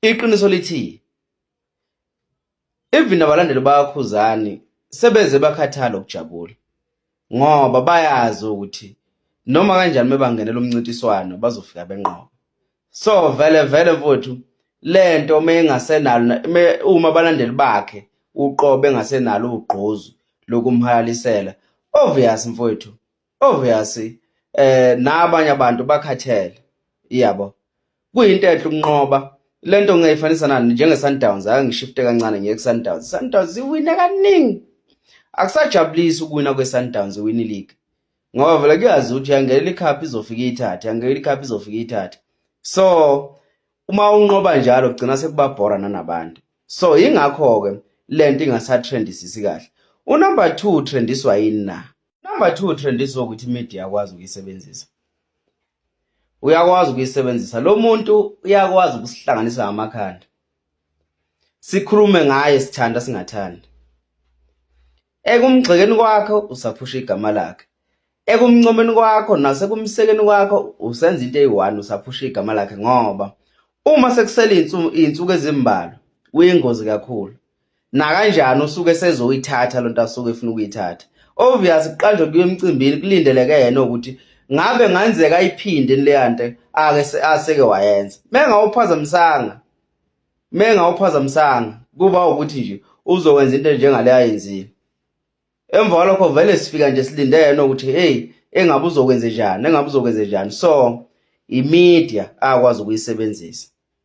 iqiniso lithi even abalandeli bakhuzani sebeze bakhathala ukujabula ngoba bayazi ukuthi noma kanjani mebangenela umncintiswano bazofika benqoba so vele vele mfowethu lento meyengasenalo uma abalandeli bakhe uqobe engasenalo ugqozu lokumhalalisela obvious mfowethu obviously eh nabanye abantu bakhathele iyabo kuyinto enhle ukunqoba lento ngiyifanisa nani njenge Sundowns ake ngishifte kancane ngiye ku Sundowns Sundowns iwina kaningi akusajabulisi ukuwina kwe Sundowns iwini league ngoba vele kuyazi ukuthi yangela ikhaphi izofika ithathe yangela ikhaphi izofika ithathe so uma unqoba njalo kugcina sekuba bhora nanabantu so ingakho ke lento ingasatrendisisi kahle unumber 2 trendiswa yini na number two trendiswa ukuthi imedia yakwazi ukuyisebenzisa uyakwazi ukuyisebenzisa lo muntu uyakwazi ukusihlanganisa ngamakhanda sikhulume ngaye sithanda singathandi ekumgxekeni kwakho usaphusha igama lakhe ekumncomeni kwakho nasekumsekeni kwakho usenza into eyi-one usaphusha igama lakhe ngoba uma sekusele iy'nsuku ezimbalwa kuyingozi kakhulu nakanjani usuke sezoyithatha lonto asuke efuna ukuyithatha obvious kuqanjwe kuye emcimbini kulindeleke yena ukuthi ngabe ngenzeka ayiphinde leyante ake aseke wayenza mengawuphazamisanga mengawuphazamisanga kuba ukuthi nje uzokwenza into njengale ayenzile emva kwalokho vele sifika nje silinde yena ukuthi hey engabe uzokwenze njani engabe uzokwenze njani so imedia akwazi ukuyisebenzisa